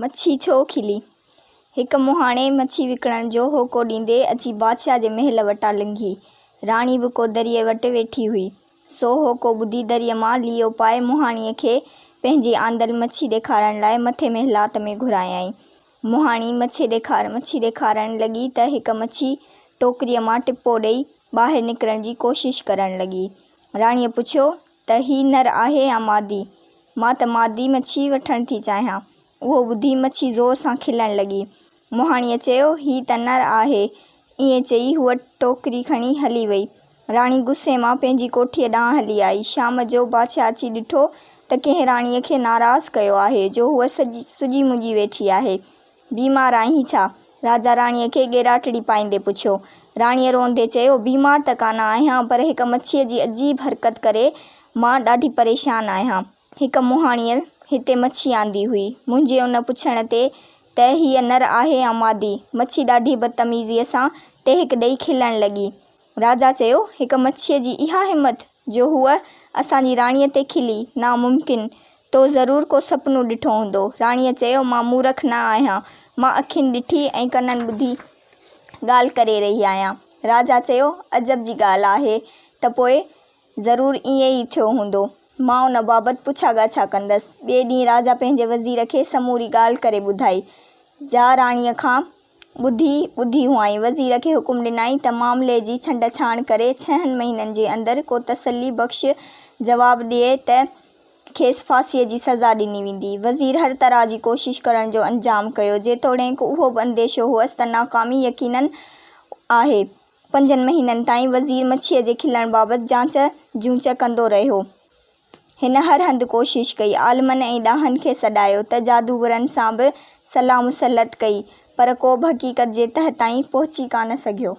مڇي ڇو کلي؟ هڪ مهاڻي مڇي وڪڻڻ جو هوڪو ڏيندي اچي بادشاهه جي محل وٽان لنگهي. راڻي به ڪو دريء وٽ ويٺي هئي. سو هوڪو ٻڌي دريء مان ليئو پائي مهاڻيء کي پنهنجي آندل مڇي ڏيکارڻ لاء مٿي محلات ۾ گهرايائين. مهاڻي مڇي ڏيکار مڇي ڏيکارڻ لڳي ته هڪ مڇي ٽوڪريء مان ٽپو ڏيئي ٻاهر نڪرڻ جي ڪوشش ڪرڻ لڳي. راڻيء پڇيو، ته هي نر آهي يا مادي؟ مان ته مادي مڇي وٺڻ ٿي چاهيان. اهو ٻڌي مڇي زور سان کلڻ لڳي. مهاڻيء چيو، هي ته نر آهي. ائين چئي هوء ٽوڪري کڻي هلي وئي. راڻي غصي مان پنهنجي ڪوٺيء ڏانهن هلي آئي. شام جو بادشاهه اچي ڏٺو ته ڪنهن راڻيء کي ناراض ڪيو آهي جو هوء سڄي سڄي مڃي ويٺي آهي. بيمار آهين ڇا؟ راجا راڻيء کي ڳيراٽڙي پائيندي پڇيو. راڻيء روئندي چيو، بيمار ته ڪانه آهيان، پر هڪ مڇيء جي عجيب حرڪت ڪري مان ڏاڍي پريشان آهيان. هڪ مهاڻيء هتي مڇي آندي هئي. منهنجي ان پڇڻ تي ته هيء نر آهي يا مادي، مڇي ڏاڍي بدتميزيء سان ٽهڪ ڏيئي کلڻ لڳي. راجا چيو، هڪ مڇيء جي اها همت جو هوء اسان جي راڻيء تي کلي، ناممڪن! تو ضرور ڪو سپنو ڏٺو هوندو. راڻيء چيو، مان مورک نه آهيان. مان اکين ڏٺي ۽ ڪنن ٻڌي ڳالهه ڪري رهي آهيان. راجا چيو، عجب جي ڳالهه آهي ته پوء ضرور ائين ئي ٿيو هوندو. مان ان بابت پڇا ڳاڇا ڪندس. ٻئي ڏينهن راجا پنهنجي وزير کي سموري ڳالهه ڪري ٻڌائي، جا راڻيء کان ٻڌي ٻڌي هئائين. وزير کي حڪم ڏنائين ته معاملي جي ڇنڊ ڇاڻ ڪري ڇهن مهينن جي اندر ڪو تسلي بخش جواب ڏئي ته کيس ڦاسيء جي سزا ڏني ويندي. وزير هر طرح جي ڪوشش ڪرڻ جو انجام ڪيو، جيتوڻيڪ اهو به انديشو هئس ته ناڪامي يقينن آهي. پنجن مهينن تائين وزير مڇيء جي کلڻ بابت جانچ جونچ ڪندو رهيو. هن هر هنڌ ڪوشش ڪئي، عالمن ۽ ڏاهن کي سڏايو ته جادوگرن سان به صلاح مسلط ڪئي، پر ڪو به حقيقت جي تهه تائين پهچي ڪانه سگهيو.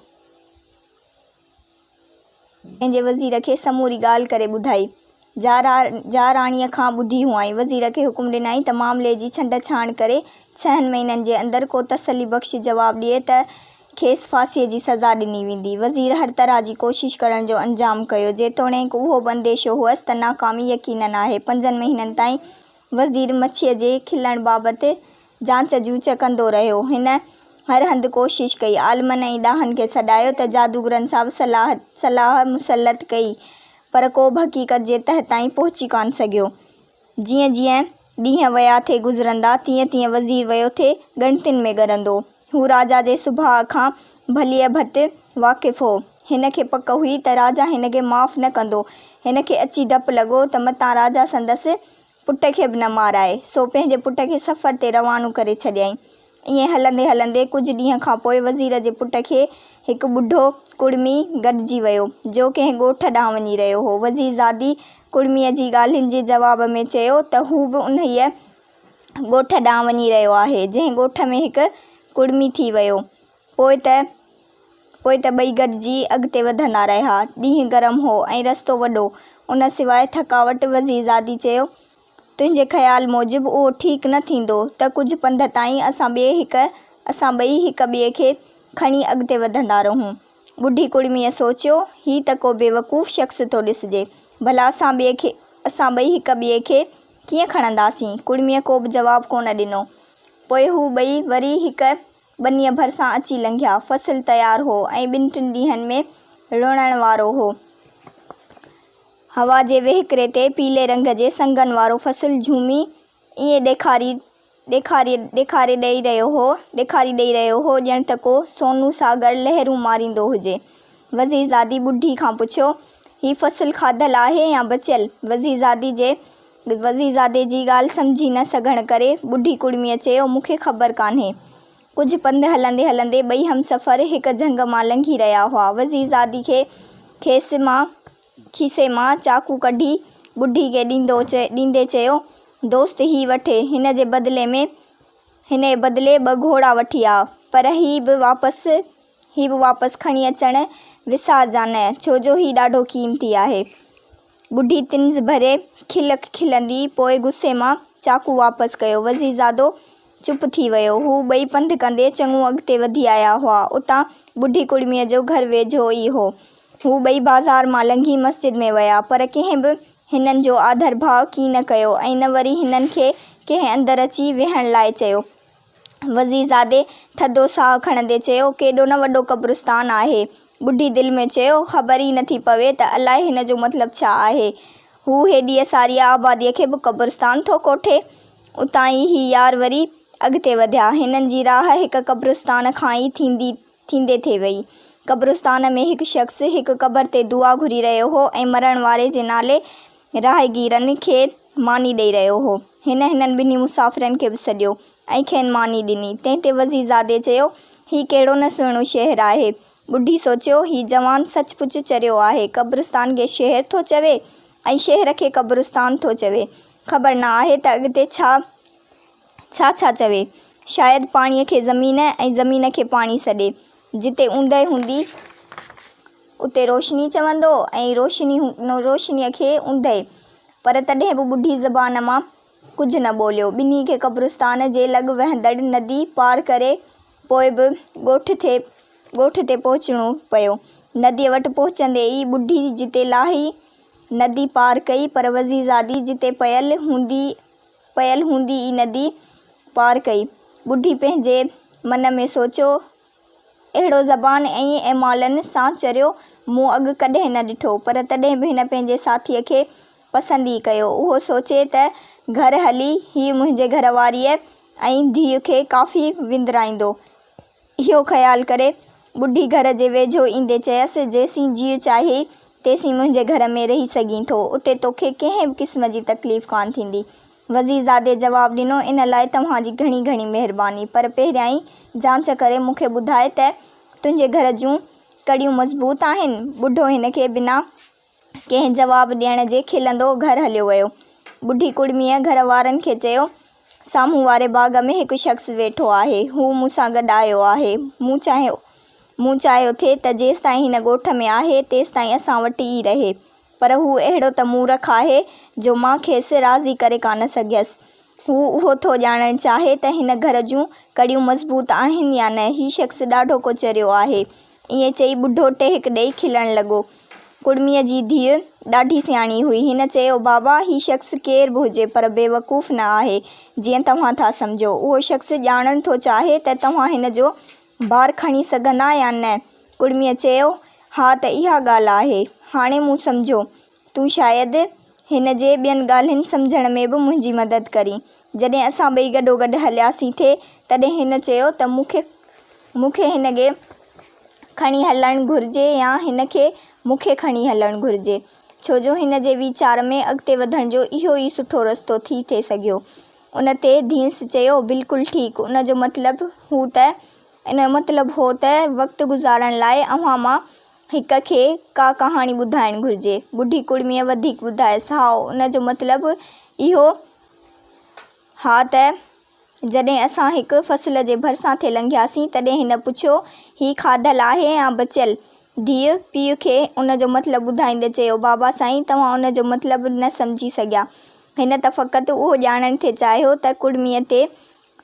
پنهنجي وزير کي سموري ڳالهه ڪري ٻڌائي، جا را جا راڻيء کان ٻڌي هئائين. وزير کي حڪم ڏنائين ته معاملي جي ڇنڊ ڇاڻ ڪري ڇهن مهينن جي اندر ڪو تسلي بخش جواب ڏئي ته کيس ڦاسيء جي سزا ڏني ويندي. وزير هر طرح جي ڪوشش ڪرڻ جو انجام ڪيو، جيتوڻيڪ اهو به انديشو هئس ته ناڪامي يقينن آهي. پنجن مهينن تائين وزير مڇيء جي کلڻ بابت جانچ جوچ ڪندو رهيو. هن هر هنڌ ڪوشش ڪئي، عالمن ۽ ڏاهن کي سڏايو ته جادوگرن سان به صلاح صلاح مسلط ڪئي، پر ڪو به حقيقت جي تهه تائين پهچي ڪانه سگهيو. جيئن جيئن. ڏينهن ويا ٿي گذرندا، تيئن تيئن وزير ويو ٿي ڳڻتين ۾ ڳرندو. هو راجا جي سڀاء کان ڀليء ڀت واقف هو. هن کي پڪ هئي ته راجا هن کي معاف نه ڪندو. هن کي اچي ڊپ لڳو ته متان راجا سندس پٽ کي به نه مارائي. سو پنهنجي پٽ کي سفر تي روانو ڪري ڇڏيائين. ائين هلندي هلندي ڪجهه ڏينهن کان پوء وزير جي پٽ کي هڪ ٻڍو ڪڙمي گڏجي ويو، جو ڪنهن ڳوٺ ڏانهن وڃي رهيو هو. وزير زادي ڪڙميء جي ڳالهين جي جواب ۾ چيو ته هو به انهيء ڳوٺ ڏانهن وڃي رهيو آهي، جنهن ڳوٺ ۾ هڪ ڪڙمي ٿي ويو. پوء ته پوء ته ٻئي گڏجي اڳتي وڌندا رهيا. ڏينهن گرم هو ۽ رستو وڏو. ان سواء ٿڪاوٽ وزير زادي چيو تنهنجي خيال موجب اهو ٺيڪ نه ٿيندو ته ڪجهه پنڌ تائين اسان ٻئي هڪ اسان ٻئي هڪ ٻئي کي کڻي اڳتي وڌندا رهون. ٻڍي ڪڙميء سوچيو، هي ته ڪو بيوقوف شخص ٿو ڏسجي. ڀلا اسان ٻئي کي اسان ٻئي هڪ ٻئي کي ڪيئن کڻنداسين؟ ڪڙميء ڪوبه جواب ڪونه ڏنو. پوء هو ٻئي وري هڪ ٻنيء ڀرسان اچي لنگهيا. فصل تيار هو ۽ ٻن ٽن ڏينهن ۾ لڻڻ وارو هو. هوا جي وهڪري تي پيلي رنگ جي سنگن وارو فصل جهومي ائين ڏيکاري ڏيکاري ڏيکاري ڏئي رهيو هو ڏيکاري ڏئي رهيو هو ڄڻ ته ڪو سونهون ساگر لهرون ماريندو هجي. وزيرزادي ٻڍي کان پڇيو، هي فصل کاڌل آهي يا بچيل؟ وزيرزادي جي وزيرزادي جي ڳالهه سمجهي نه سگهڻ ڪري ٻڍي ڪڙميء چيو، مون کي خبر ڪانهي. ڪجهه پنڌ هلندي هلندي ٻئي همسفر هڪ جهنگ مان لنگهي رهيا هئا. وزير زادي کي کيسي مان کيسي مان چاقو ڪڍي ٻڍي کي ڏيندو ڏيندي چيو، دوست هي وٺي، هن جي بدلي ۾ هن بدلي ٻه گهوڙا وٺي آء، پر هي به واپس هي به واپس کڻي اچڻ وسارجانء، ڇو جو هي ڏاڍو قيمتي آهي. ٻڍي طنز ڀري کل کلندي پوء غصي مان چاقو واپس ڪيو. وزيرزادو چپ ٿي ويو. هو ٻئي پنڌ ڪندي چڱو اڳتي وڌي آيا هئا. اتان ٻڍي ڪڙميء جو گهر ويجهو ئي هو. هو ٻئي بازار مان لنگهي مسجد ۾ ويا، پر ڪنهن به هنن جو آڌرڀاء ڪين ڪيو ۽ نه وري هنن کي ڪنهن اندر اچي ويهڻ لاء چيو. وزيرزادي ٿڌو ساهه کڻندي چيو، ڪيڏو نه وڏو قبرستان آهي. ٻڍي دل ۾ چيو، خبر ئي نٿي پوي ته الائي هن جو مطلب ڇا آهي. هو هيڏيء ساريء آباديء کي به قبرستان ٿو ڪوٺي. اتان ئي هي يار وري اڳتي وڌيا. هنن جي راهه هڪ قبرستان کان ئي ٿيندي ٿيندي ٿي وئي. قبرستان ۾ هڪ شخص هڪ قبر تي دعا گهري رهيو هو ۽ مرڻ واري جي نالي راهگيرن کي ماني ڏئي رهيو هو. هن هنن ٻنهي مسافرن کي به سڏيو ۽ کين ماني ڏني. تنهن تي وزيرزادي چيو، هي ڪهڙو نه سهڻو شهر آهي. ٻڍي سوچيو، هي جوان سچ پچ چريو آهي. قبرستان کي شهر ٿو چوي ۽ شهر کي قبرستان ٿو چوي. خبر نه آهي ته اڳتي ڇا ڇا ڇا چوي؟ شايد پاڻيء کي زمين ۽ زمين کي پاڻي سڏي. جتي اوندهه هوندي، اتي روشني چوندو ۽ روشني روشنيء کي اوندهه. پر تڏهن به ٻڍي زبان مان ڪجهه نه ٻوليو. ٻنهي کي قبرستان جي لڳ وهندڙ ندي پار ڪري پوء به ڳوٺ تي ڳوٺ تي پهچڻو پيو. نديء وٽ پهچندي ئي ٻڍي جتي لاهي ندي پار ڪئي، پر وزيرزادي جتي پيل هوندي پيل هوندي ئي ندي پار ڪئي. ٻڍي پنهنجي من ۾ سوچيو، اهڙو زبان ۽ اعمالن سان چريو مون اڳ ڪڏهن نه ڏٺو، پر تڏهن به هن پنهنجي ساٿيء کي پسند ئي ڪيو. اهو سوچي ته گهر هلي هيء منهنجي گهر واريء ۽ ڌيء کي ڪافي وندرائيندو. اهو خيال ڪري، ٻڍي گهر جي ويجهو ايندي چيس، جيسين جيء چاهي، تيسين منهنجي گهر ۾ رهي سگهين ٿو. اتي توکي ڪنهن به قسم جي تڪليف ڪانه ٿيندي. وزيرزادي جواب ڏنو، ان لاء توهان جي گهڻي گهڻي مهرباني، پر پهريائين جانچ ڪري مون کي ٻڌاء ته تنهنجي گهر جون ڪڙيون مضبوط آهن؟ ٻڍو هن کي بنا. ڪنهن جواب ڏيڻ جي کلندو گهر هليو ويو. ٻڍي ڪڙميء گهر وارن کي چيو، سامهون واري باغ ۾ هڪ شخص ويٺو آهي، هو مون سان گڏ آيو آهي، مون چاهيو مون چاهيو ٿي ته جيستائين هن ڳوٺ ۾ آهي، تيستائين اسان وٽ ئي رهي، پر هو اهڙو ته مورک آهي، جو مان کيس راضي ڪري ڪانه سگهيس. هو اهو ٿو ڄاڻڻ چاهي ته هن گهر جون ڪڙيون مضبوط آهن يا نه. هي شخص ڏاڍو ڪو چريو آهي، ائين چئي ٻڍو ٽهڪ ڏيئي کلڻ لڳو. ڪڙميء جي ڌيء ڏاڍي سياڻي هئي. هن چيو، بابا، هي شخص ڪير به هجي، پر بيوقوف نه آهي، جيئن توهان ٿا سمجهو. اهو شخص ڄاڻڻ ٿو چاهي ته توهان هن جو بار کڻي سگهندا يا نه؟ ڪڙميء چيو، ها ته اها ڳالهه آهي. هاڻي مون سمجهيو. تون شايد هن جي ٻين ڳالهين سمجهڻ ۾ به منهنجي مدد ڪرين. جڏهن اسان ٻئي گڏوگڏ هلياسين ٿي، تڏهن هن چيو ته مون کي مون کي هن کي کڻي هلڻ گهرجي يا هن کي مون کي کڻي هلڻ گهرجي، ڇو جو هن جي ويچار ۾ اڳتي وڌڻ جو اهو ئي سٺو رستو ٿي ٿي سگهيو. ان تي ڌينس چيو، بلڪل ٺيڪ، ان جو مطلب هو ته ان جو مطلب هو ته وقت گذارڻ لاء اوهان مان هڪ کي ڪا ڪهاڻي ٻڌائڻ گهرجي. ٻڍي ڪڙميء وڌيڪ ٻڌايس، هائو، ان جو مطلب اهو ها ته جڏهن اسان هڪ فصل جي ڀرسان ٿي لنگهياسين، تڏهن هن پڇيو، هي کاڌل آهي يا بچيل؟ ڌيء، پيء کي ان جو مطلب ٻڌائيندي چيو، بابا سائين، توهان ان جو مطلب نه سمجهي سگهيا. هن ته فقط اهو ڄاڻڻ ٿي چاهيو ته ڪڙميء تي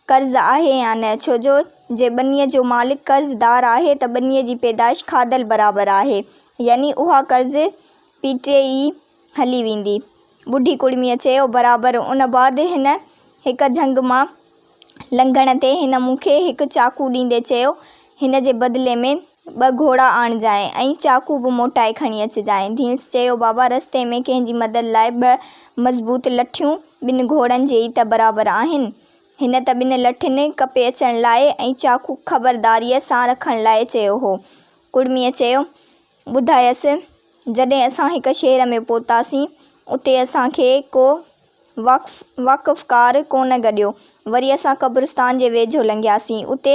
قرض آهي يا نه، ڇو جو جي ٻنيء جو مالڪ قرض دار آهي ته ٻنيء جي پيدائش کاڌل برابر آهي، يعني اها قرض پيٽي ئي هلي ويندي. ٻڍي ڪڙميء چيو، برابر. ان بعد هن هڪ جهنگ مان لنگهڻ تي هن مون کي هڪ چاقو ڏيندي چيو، هن جي بدلي ۾ ٻه گهوڙا آڻجانء ۽ چاقو به موٽائي کڻي اچجانء. ڌيڻس چيو، بابا رستي ۾ ڪنهن جي مدد لاء ٻه مضبوط لٺيون ٻن گهوڙن جي ئي ته برابر آهن. هن ته ٻن لٺين ڪپي اچڻ لاء ۽ چاقو خبرداريء سان رکڻ لاء چيو هو. ڪڙميء چيو، ٻڌايس! جڏهن اسان هڪ شهر ۾ پهتاسين، اتي اسان کي ڪو وقف، وقفڪار، ڪونه گڏيو. وري اسان قبرستان جي ويجهو لنگهياسين. اتي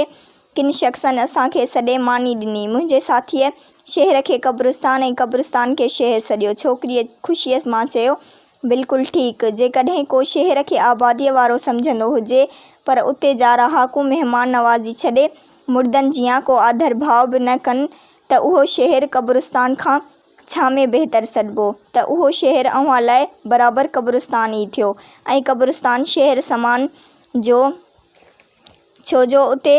ڪن شخصن اسان کي سڏي ماني ڏني. منهنجي ساٿيء شهر کي قبرستان ۽ قبرستان کي شهر سڏيو. ڇوڪريء خوشيء مان چيو، بلڪل ٺيڪ. جيڪڏهن ڪو شهر کي آباديء وارو سمجهندو هجي، پر اتي جا رهاڪو مهمان نوازي ڇڏي، مردن جيان ڪو آڌر ڀاء به نه ڪن، ته اهو شهر قبرستان کان ڇا ۾ بهتر سڏبو؟ ته اهو شهر اوهان لاء برابر قبرستان ئي ٿيو ۽ قبرستان شهر سمان جو ڇو جو اتي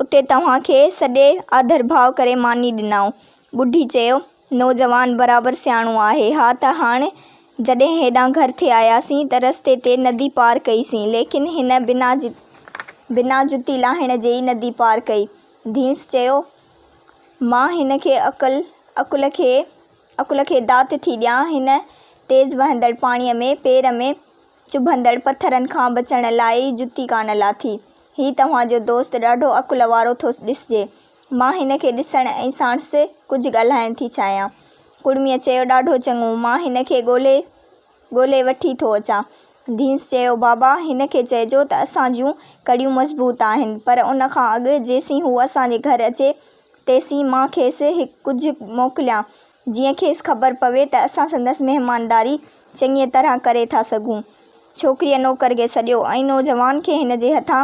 اتي توهان کي سڏي آڌرڀاء ڪري ماني ڏنائون. ٻڍي چيو، نوجوان برابر سياڻو آهي. ها ته هاڻ جڏهن هيڏانهن گهر ٿي آياسين ته رستي تي ندي پار ڪئي سين ليڪن هن بنا بنا جتي لاهڻ جي ئي ندي پار ڪئي. ڌينس چيو. مان هن کي عقل، عقل کي، عقل کي دات ٿي ڏيان، هن تيز وهندڙ پاڻيء ۾ پير ۾ چڀندڙ پٿرن کان بچڻ لاء ئي جتي ڪانه لاٿي. هي توهان جو دوست ڏاڍو عقل وارو ٿو ڏسجي. مان هن کي ڏسڻ ۽ ساڻس ڪجهه ڳالهائڻ ٿي چاهيان. ڪڙميء چيو، ڏاڍو چڱو، مان هن کي ڳولهي ڳولي وٺي ٿو اچان. ڌينس چيو، بابا، هن کي چئجو ته اسان جون ڪڙيون مضبوط آهن، پر ان کان اڳ جيسين هو اسان جي گهر اچي، تيسين مان کيس ڪجهه موڪليان، جيئن کيس خبر پوي ته اسان سندس مهمانداري چڱيء طرح ڪري ٿا سگهون. ڇوڪريء نوڪر کي سڏيو ۽ نوجوان کي هن جي هٿان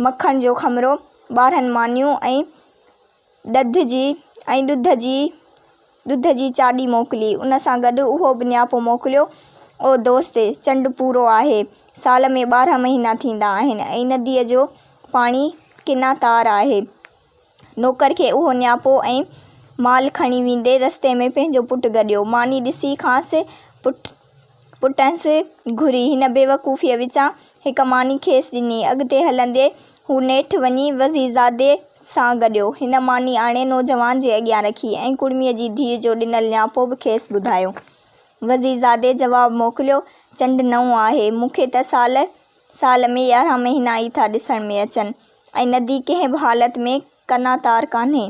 مکڻ جو خمرو، ٻارهن مانيون ۽. ڏڌ جي ۽ ڏڌ جي ڏڌ جي چاڏي موڪلي. ان سان گڏ اهو به نياپو موڪليو، او دوست! چنڊ پورو آهي. سال ۾ ٻارهن مهينا ٿيندا آهن ۽ نديء جو پاڻي ڪنا تار آهي. نوڪر کي اهو نياپو ۽ مال کڻي ويندي رستي ۾ پنهنجو پٽ گڏيو. ماني ڏسي کانئس پٽ پٽس گهري هن بيوقوفيء وچان هڪ ماني کيس ڏني. اڳتي هلندي هو نيٺ وڃي وزيرزادي سان گڏيو. هن ماني آڻي نوجوان جي اڳيان رکي ۽ ڪڙميء جي ڌيء جو ڏنل نياپو به کيس ٻڌايو. وزيرزادي جواب موڪليو، چنڊ نئون آهي. مون کي ته سال سال ۾ يارهن مهينا ئي ٿا ڏسڻ ۾ اچن ۽ ندي ڪنهن به حالت ۾ ڪنا تار ڪانهي.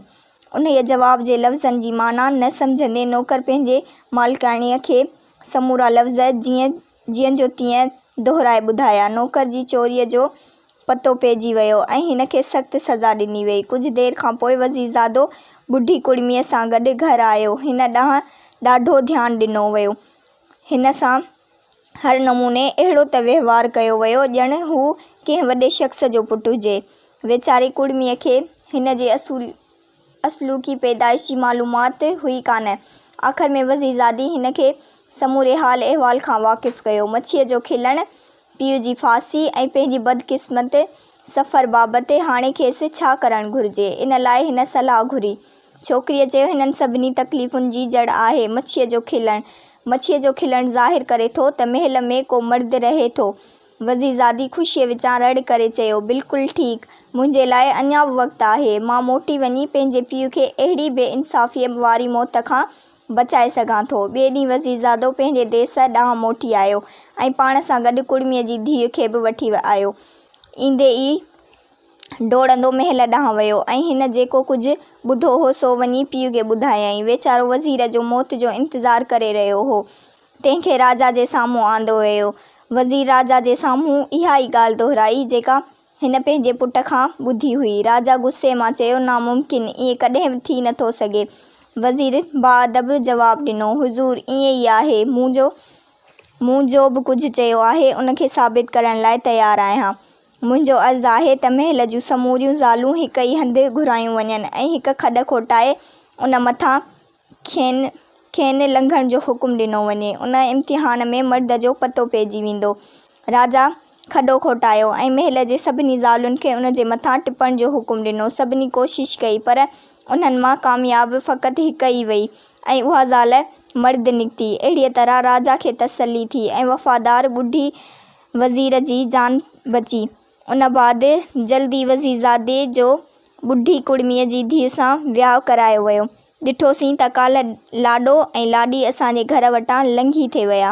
انهيء جواب جي لفظن جي معنيٰ نه سمجهندي نوڪر پنهنجي مالڪاڻيء کي سمورا لفظ جيئن جيئن جو تيئن دهرائي ٻڌايا. نوڪر جي چوريء جو پتو پئجي ويو ۽ هن کي سخت سزا ڏني ويئي. ڪجهه دير کان پوء وزيرزادو ٻڍي ڪڙميء سان گڏ گهر آيو. هن ڏانهن ڏاڍو ڌيان ڏنو ويو. هن سان. هر نموني اهڙو ته وهنوار ڪيو ويو ڄڻ هو ڪنهن وڏي شخص جو پٽ هجي. ويچاري ڪڙميء کي هن جي اصلوڪي پيدائش جي معلومات هئي ڪانه. آخر ۾ وزيرزادي هن کي سموري حال احوال کان واقف ڪيو. مڇيء جو کلڻ، پيء جي ڦاسي ۽ پنهنجي بدقسمت سفر بابت هاڻي کيس ڇا ڪرڻ گهرجي، ان لاء هن صلاح گهري. ڇوڪريء چيو، هنن سڀني تڪليفن جي جڙ آهي مڇيء جو کلڻ. مڇيء جو کلڻ ظاهر ڪري ٿو ته محل ۾ ڪو مرد رهي ٿو. وزيرزادي خوشيء وچان رڙ ڪري چيو، بلڪل ٺيڪ. منهنجي لاء اڃا به وقت آهي. مان موٽي وڃي پنهنجي پيء کي اهڙي بي انصافيء واري موت کان بچائي سگهان ٿو. ٻئي ڏينهن وزيرزادو پنهنجي ديس ڏانهن موٽي آيو ۽ پاڻ سان گڏ ڪڙميء جي ڌيء کي به وٺي آيو. ايندي ئي. ڊوڙندو محل ڏانهن ويو ۽ هن جيڪو ڪجهه ٻڌو هو سو وڃي پيء کي ٻڌايائين. ويچارو وزير جو موت جو انتظار ڪري رهيو هو. تنهن کي راجا جي سامهون آندو ويو. وزير راجا جي سامهون اها ئي ڳالهه دهرائي جيڪا هن پنهنجي پٽ کان ٻڌي هئي. راجا غصي مان چيو ناممڪن، ائين ڪڏهن به ٿي نٿو سگهي. وزير باادب جواب ڏنو، حضور ائين ئي آهي. مون جو به ڪجهه چيو آهي ان کي ثابت ڪرڻ لاء تيار آهيان. منهنجو عرض آهي ته محل جون سموريون زالون هڪ ئي هنڌ گهرايون وڃن ۽ هڪ کڏ کوٽائي ان مٿان کين کين لنگهڻ جو حڪم ڏنو وڃي. ان امتحان ۾ مرد جو پتو پئجي ويندو. راجا کڏو کوٽايو ۽ محل جي سڀني زالن کي ان جي مٿان ٽپڻ جو حڪم ڏنو. سڀني ڪوشش ڪئي پر انهن مان ڪامياب فقط هڪ ئي وئي ۽ اها زال مرد نڪتي. اهڙيء طرح راجا کي تسلي ٿي ۽ وفادار ٻڍي وزير جي جان بچي. ان بعد جلد ئي وزيرزادي جو ٻڍي ڪڙميء جي ڌيء سان وياهه ڪرايو ويو. ڏٺوسين ته ڪالهه لاڏو ۽ لاڏي اسان جي گهر وٽان لنگهي ٿي ويا.